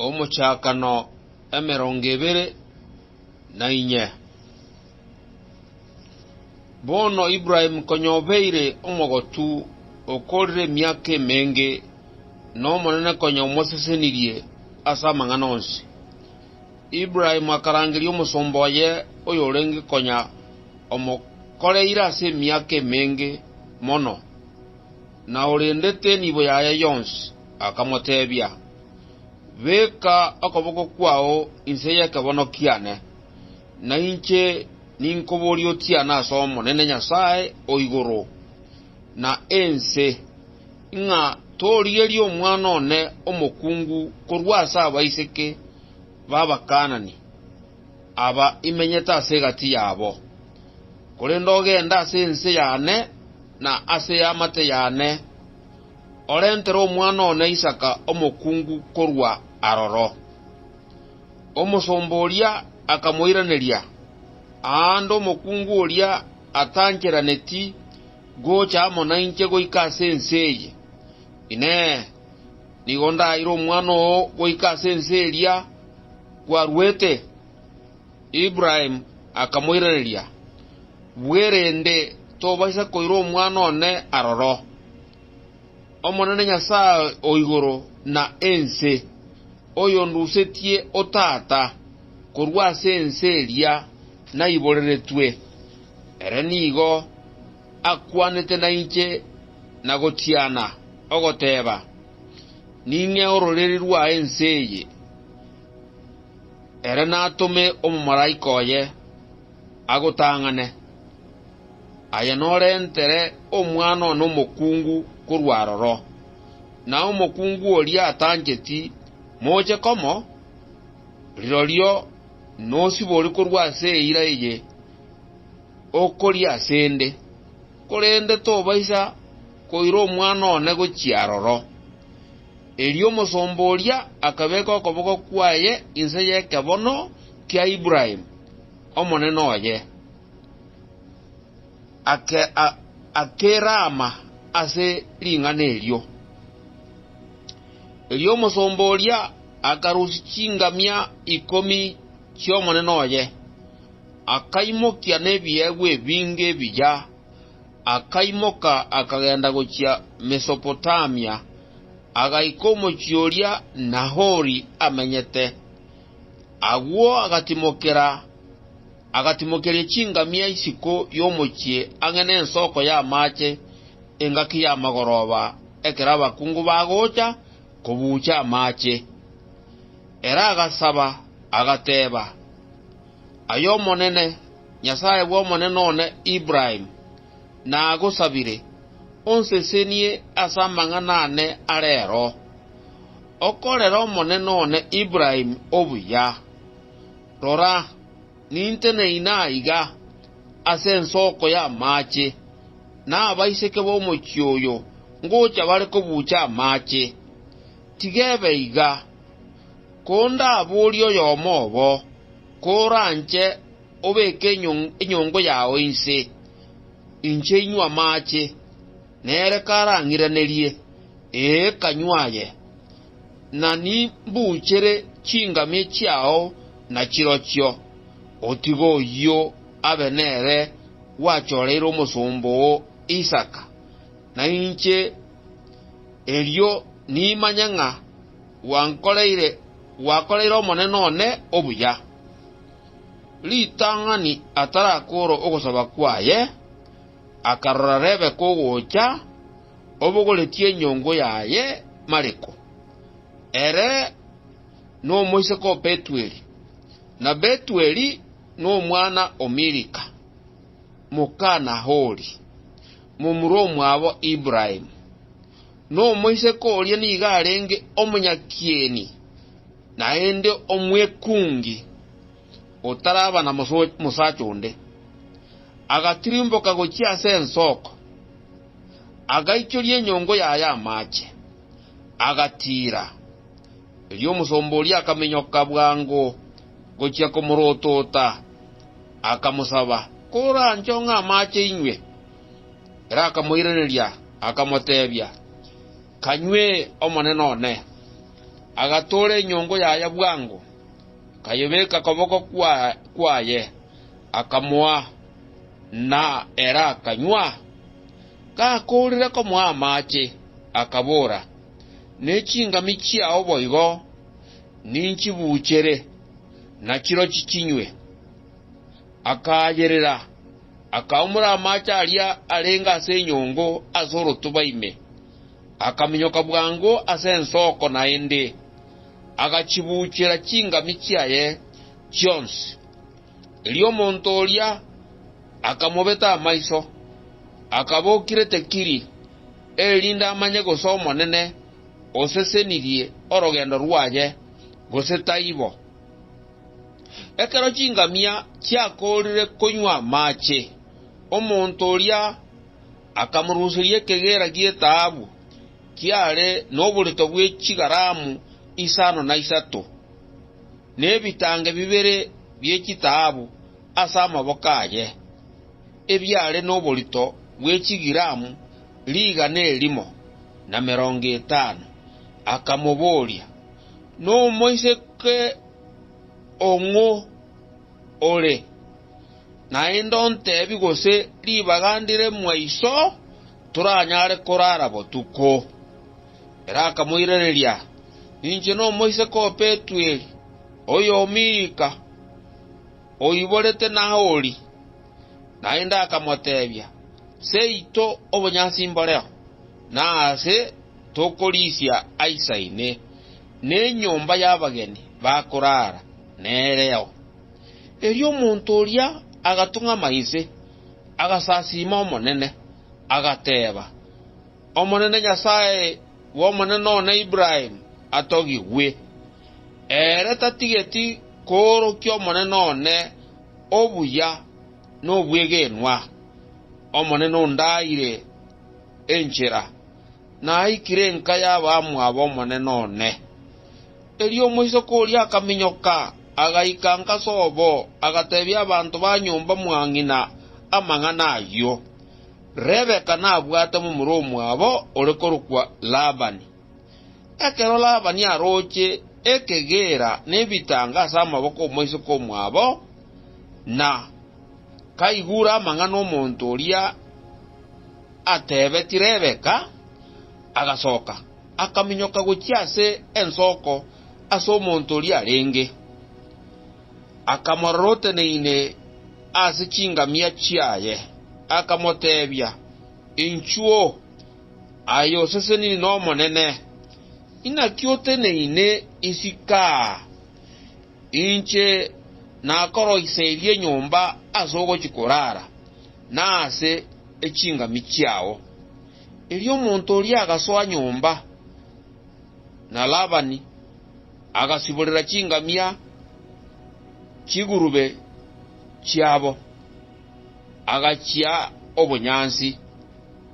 Omochakano emerongo ebere na inye. Bono Ibrahimu konya obeire omogotu okoorire emiaka emenge, na Omonene konya omosesenirie ase amang'ana onsi, Ibrahimu akarangeria omosomba oye oyorenge konya omokoreire ase emiaka emenge mono. Na orendete enibo yaye yonsi akamotebia, Beka okoboko kwao inse y'ekebono kiane, na inche ninkoborie otiane as'Omonene Nyasae o igoro na ense, ng'a torigerie omwana one omokungu korwa as'abaiseke b'Abakaanani aba imenyete as'egati yabo. korende ogende ase ense y'ane na ase y'amate y'ane, orentere omwana one Isaka omokungu korwa aroro. Omosomba oria akamoiraneria, Aande omokungu oria atancheraneti gocha amo nainche goika ase ense eye. Inee! Nigo ndaire omwana oo goika ase ense eria kwaruete? Ibrahimu akamoiraneria, Bwerende tobaisa koira omwana one aroro, Omonene Nyasae o igoro na ense, oyondusetie otata korwa ase ense eria naiboreretwe, ere nigo akwanete nainche na gotiana, ogoteeba, Ning'ee ororeri rwa ense eye. Ere natome omomalaika oye agotang'ane. Aye norentere omwana one omokungu korwa aroro, na omokungu oria atancheti moche komo, rirorio nosibori korwa ase eira eye okoria ase 'nde, korende tobaisa koira omwana one gochia aroro. Erio omosomba oria akabeka okoboko kwaye inse y'ekebono kia Ibrahimu, omonene oye, akerama ase ring'ana erio. Erio omosomba oria akarusia chingamia ikomi chi'omonene oye, akaimokia nebiegwa ebinge ebiya. akaimoka akagenda gochia Mesopotamia, agaika omochie oria Nahori amenyete. Agwo agatimokera, agatimokeria chingamia isiko y'omochie ang'e nensoko y'amaache, engaki y'amagoroba, ekero abakungu bagocha kobuucha amaache. Ere agasaba, agateba, Aye Omonene, Nyasae bw'omonene one Ibraim, nagosabire, onsesenie ase amang'ana aane a reero, okorere omonene one Ibraim obuya. Rora, ninteneine naiga ase ensoko y'amaache, na abaiseke b'omochie oyo ngocha bare kobuucha amaache. Tiga ebe iga. Kondaboorie oyomo obo, Koranche obeke enyongo yao inse, inche inywe amaache, nere karang'iranerie, Ee, kanywa aye, na nimbuchere chingamia chiao na chirochio, otige oyio abe nere gwachoreire omosomba oo Isaka, na inche erio nimanye ng'a Gwankoreire, gwakoreire omonene one obuya. Ritang'ani atarakoora ogosaba kwaye, akarora Rebeka ogocha, obogoretie enyongo yaye Maleko, ere nomoiseke o Betueli, na Betueli nomwana o Milika, moka Nahori, momura omwabo Ibrahimu. Nomoiseke oria nigo arenge omonyakieni, naende omwekungi, otaraba na mosacha onde. Agatirimboka gochia ase ensoko, agaichoria enyongo yaye amache, agatiira. Erio omosomba oria akaminyoka bwango gochia komorotota, akamosaba, Koranchong'e amache inywe. Ere akamoiraneria, akamotebia, Kanywe, omonene one. Agatoora enyongo yaye bwango, akayebeka koboko kwaye, akamoa, na ere akanywa. Gakoorire komoa amache, akabora, Ne chingami chiao boigo ninchibuchere, na chirochio chinywe. Akaayerera, akaumora amaache aria arenge ase enyongo ase orotuba ime, akaminyoka bwango ase ensoko naende, agachibuchera chingami chiaye chionsi. Erio omonto oria akamobeta amaiso, akaba okirete kiri, erinde amanye gose Omonene osesenirie orogendo rwaye, gose taibo. Ekero chingamia chiakoorire konywa amache, omonto oria akamoruseria ekegeera gi'etaabu kiare noborito bwe chigaramu isano na isato, na ebitange bibere bie chitaabu ase amaboko aye, ebiare noborito bwe chigiramu rigana erimo na merongo etano. Akamoboria, Nomoiseke ong'o ore? Naende ontebi gose ribaga ndire mwaiso toranyare korara botuko. Ere akamoiraneria, Ninche nomoiseke o Petueli, oyomiika, oiborete Nahori. Naende akamotebia, Seito obonyasi mboreo, na ase Tokorisia Aisa ime, na enyomba y'abageni bakoraara nereo. Erio omonto oria agatung'ama inse, agasasiima Omonene, agateeba, Omonene Nyasae bw'omonene one Ibrahimu atogigwe. Ere tatigeti koorokia omonene one obuya nobwegenwa, Omonene ondaire enchera. Naikire enka y'abamwabo omonene one. Erio omoiseke oria akaminyoka, agaika inka ase obo, agateebia abanto ba nyomba mwa ng'ina amang'ana ayio. Rebeka nabwate momura omwabo ore korokwa Labani. Ekero Labani aroche ekegeera na ebitango ase amaboko 'omoiseke omwabo, na kaigure amang'ana 'omonto oria, ateebeti Rebeka, agasoka, akaminyoka gochia ase ensoko ase omonto oria arenge, akamorora oteneine ase chingamia chiaye, akamoteebia, Inchuo, aye oseseniri n'Omonene, inaki oteneine isiko aa? Inche nakoroiserie nyomba ase ogochia korara, na ase echingami chiao. Erio omonto oria agasoa nyomba, na Labani agasiborera chingamia chigurube chiabo, agachia obonyansi,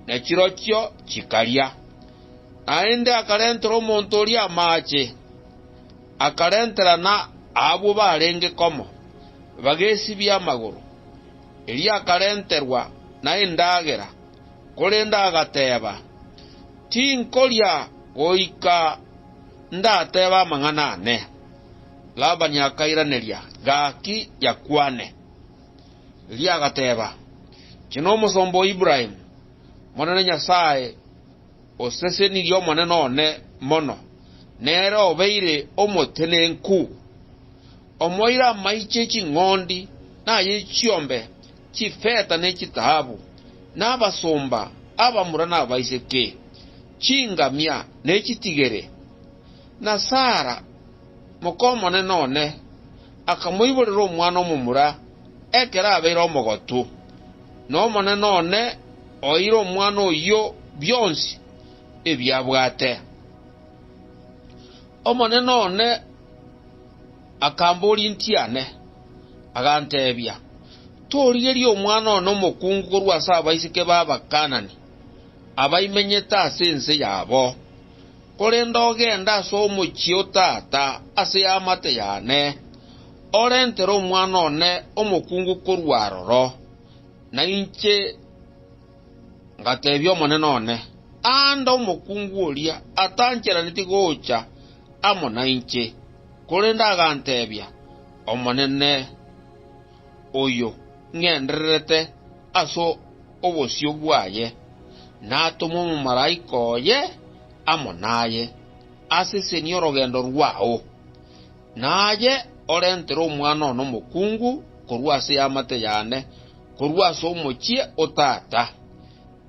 na chirochio chikaria. Naende akarentera omonto oria amaache, akarentera na abwo barenge komo, bagesibia amagoro. erio akarenterwa nendagera, korende agateba, Tinkoria goika ndatebe amang'ana aane. Labani akairaneria, Gaki yakwane. Erio agateba, Inche nomosomba o Ibrahimu, Omonene Nyasae osesenirie omonene one mono, nere obeire omotenenku. Omoira amaiche ching'ondi naye chiombe, chifeta ne chitaabu, nabasomba, abamura nabaiseke, chingamia ne chitigere. Na Sara, mokomonene one, akamoiborera omwana omomura, ekero abeire omogotu, na Omonene one oeire omwana oyio bionsi ebiabwate. Omonene one. Akambooria inki aane? Aganteebia, Torigerie omwana one omokungu korwa ase abaiseke b'Abakaanani, abaimenyete ase ense yabo, korende ogende ase omochie o tata ase eamate y'ane, orentere omwana one omokungu korwa aroro. Na inche ngateebia omonene one, Aande omokungu oria atancheraneti gocha amo nainche, korende aganteebia, Omonene, oyo ng'endererete ase obosio bwaye, natome omomalaika oye amo naye, asesenie orogendo rwao. Na aye orentere omwana one omokungu korwa ase y'amate yane, korwa ase omochie o tata.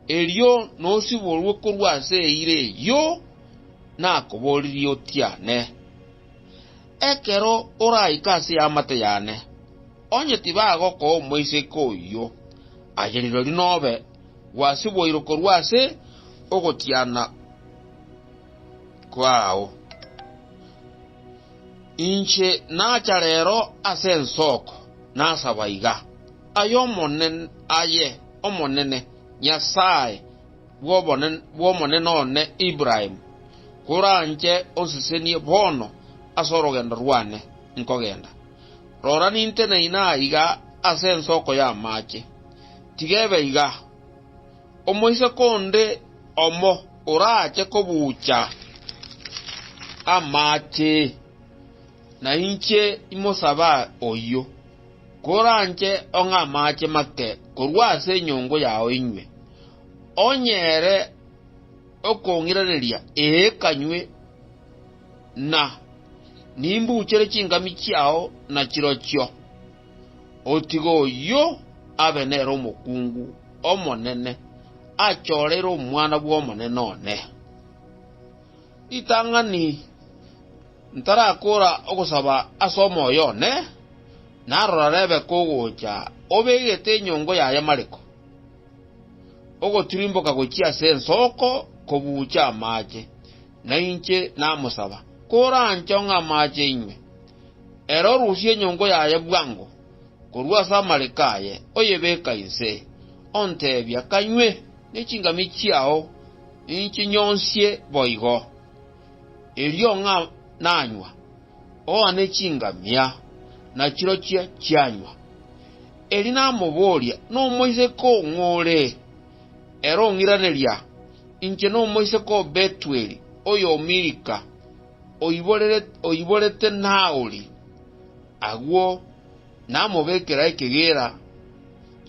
Erio nosiborwe korwa ase eira eyio nakobooririe otiane. Ekero oraike ase eamate yane, onye tibagokoa omoiseke oyio, aye rirorio nobe gwasiboirwe korwa ase ogotiana kwao. Inche nacha reero ase ensoko, nasaba iga. Aye Omonene, Nyasae bw'omonene one Ibrahimu, koranche onsesenie bono ase orogendo rwane nkogenda. Rora, ninteneine aiga ase ensoko y'amaache. Tiga ebe iga. Omoiseke onde omo orache kobuucha amaache? Nainche imosaba oyio, koranche ong'e amache make korwa ase enyongo yao inywe, onye ere okong'iraneria, ee kanywe, na nimbuchere chingami chiao na chirochio, otige oyio abe nere omokungu omonene, achoreire omwana bw'omonene one. Ritang'ani, Ntarakora ogosaba ase omoyo one, na rora rebe kogocha obegete enyongo ya ayamariko, ogotirimboka gochia ase ensoko kobuucha amaache, na inche namosaba, koranchong'e amaache inywe. Ere orusie enyongo yaye bwango korwa ase amariko aye, oyebeka inse, onteebia, Kanywe, ne chingami chiao, Inchi nyonsie boigo, erio ng'a nanywa, oone chingamia nachirochio chianywa. Erio namoboria, Nomoiseke oo ng'ore? Ere ong'iraneria, Inche nomoiseke o Betueli, oy'Milika, oiborete Nahori agwo. namobekera ekegeera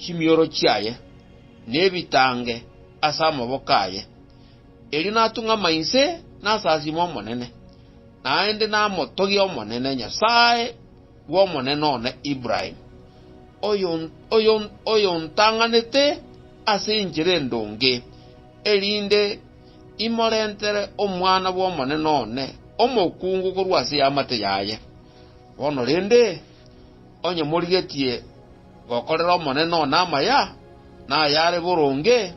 chimioro chiaye, na ebitange ase amaboko aye, erio natung'ama inse nasasime Omonene, naende namotogia Omonene, Nyasae bw'omonene one Ibrahimu, oyontang'anete ase enchera endonge, erinde imorentere omwana bw'omonene one omokungu korwa ase eamate yaye. Bono rende, onye morigetie gokorera Omonene one amaya, na ayare boronge,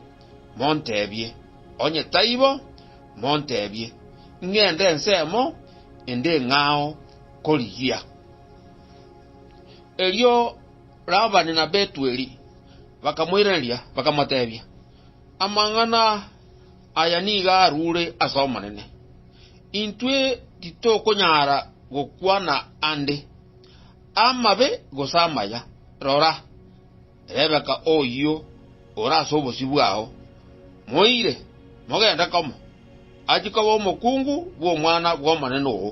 monteebie. Onye taibo, monteebie, ing'ende ensemo ende eng'ao korigia. Erio Labani na Betueli bakamoiraneria, bakamoteebia, Amang'ana. Aya nigo arure ase Omonene, intwe titokonyara gokwana ande, amabe gose amaya. Rora, Rebeka oyio ore ase obosio bwao, moire, mogende komo, achie koba omokungu bw'omwana bw'omonene oo,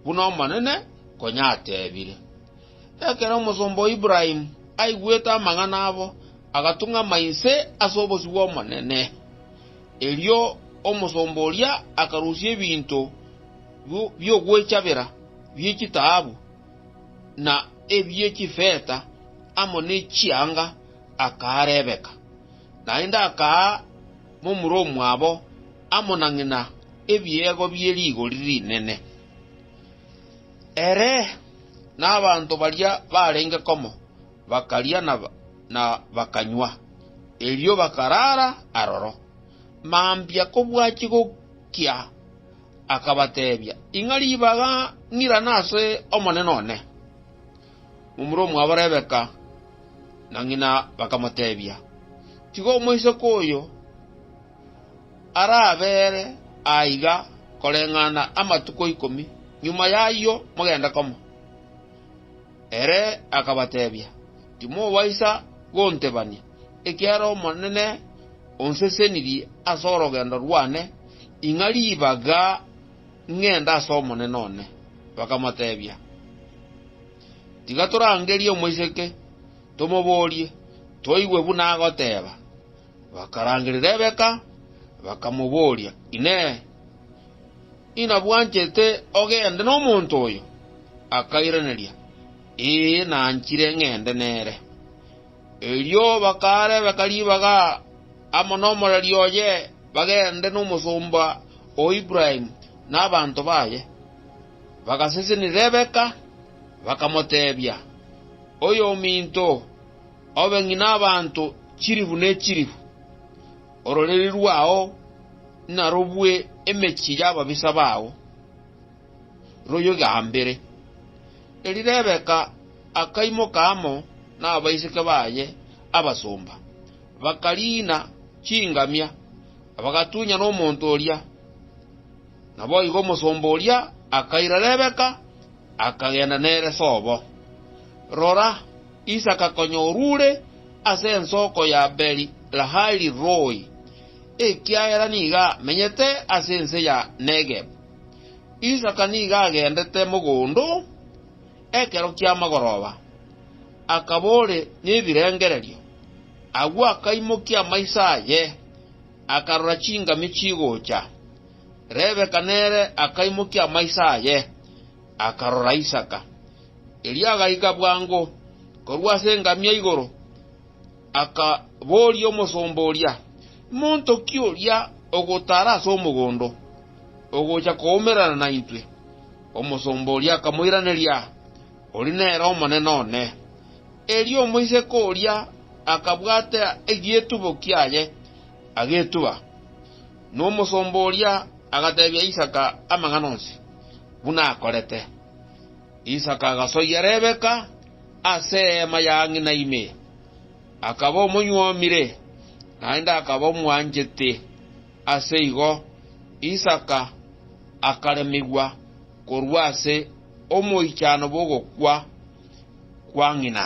buna Omonene konya atebire. Ekero omosomba o Ibrahimu aigwete amang'ana abo, agatung'ama inse ase obosio bw'Omonene. Erio omosomba oria akarusia ebinto bi'ogwechabera bie chitaabu, na ebie chifeta, amo ne chianga, akaa Rebeka. Naende akaa momura omwabo amo na ng'ina ebiegwa bie rigori rinene. Ere nabaanto baria barenge komo bakaria na bakanywa, erio bakaraara aroro. Mambia kobua chigokia, akabateebia, Ing'a ribaga ng'irana ase omonene one. Momura omwabo Rebeka na ng'ina bakamoteebia, Tiga omoiseke oyo. arabeere aiga koreng'ana amatuko ikomi, nyuma y'ayio mogende komo. Ere akabatebia, Timobaisa gontebania, ekiagera Omonene onsesenirie ase orogendo rwane, ing'a ribaga ng'ende ase omonene one. Bakamotebia, Tiga torangerie omoiseke, tomoborie, toigwe buna agoteeba. Bakarangeria Rebeka, bakamoboria, Inee! Inabwanchete ogende nomonto oyo? Akairaneria, Ee, nanchire ng'ende nere. Erio bakaa Rebeka ribaga amo nomoreri oye bagende nomosomba o Ibrahimu na abanto baye. Bagasesenia Rebeka, bakamotebia, Oyominto, Obe ng'ina abanto chilifu ne chilifu, ororeri rwao narobue emechie y'ababisa bao, royogaambere. Erio Rebeka akaimoka amo nabaiseke baye abasomba, bakariina chingamia, na bagatunyana omonto oria. Naboigo omosomba oria akaira Rebeka, akagenda nere sobo. Rora! Isaka konya orure ase ensoko ya Beeri-lahai-ri-rooi, ekiagera nigo amenyete ase ense ya Negebu. Isaka nigo agendete mogondo ekero ki'amagoroba, akaba ore nebirengererio. Agwo akaimokia amaiso aye, akarora chingami chigocha. Rebeka nere akaimokia amaiso aye, akarora Isaka. Erio agaika bwango korwa ase engamia igoro, akaboria omosomba oria, Monto ki oria ogotaara ase omogondo, ogocha koumerana naintwe? Omosomba oria akamoiraneria, Oria nere omonene one. Erio omoiseke oria akabwata egietubo kiaye, agetuba. Na omosomba oria agateebia Isaka amang'ana onsi, buna akorete. Isaka agasoyia Rebeka ase eema ya ng'ina ime, akaba omonyuomire, naende akaba omwanchete. Ase igo Isaka akaremigwa korwa ase omoichano bw'ogokwa kwa ng'ina.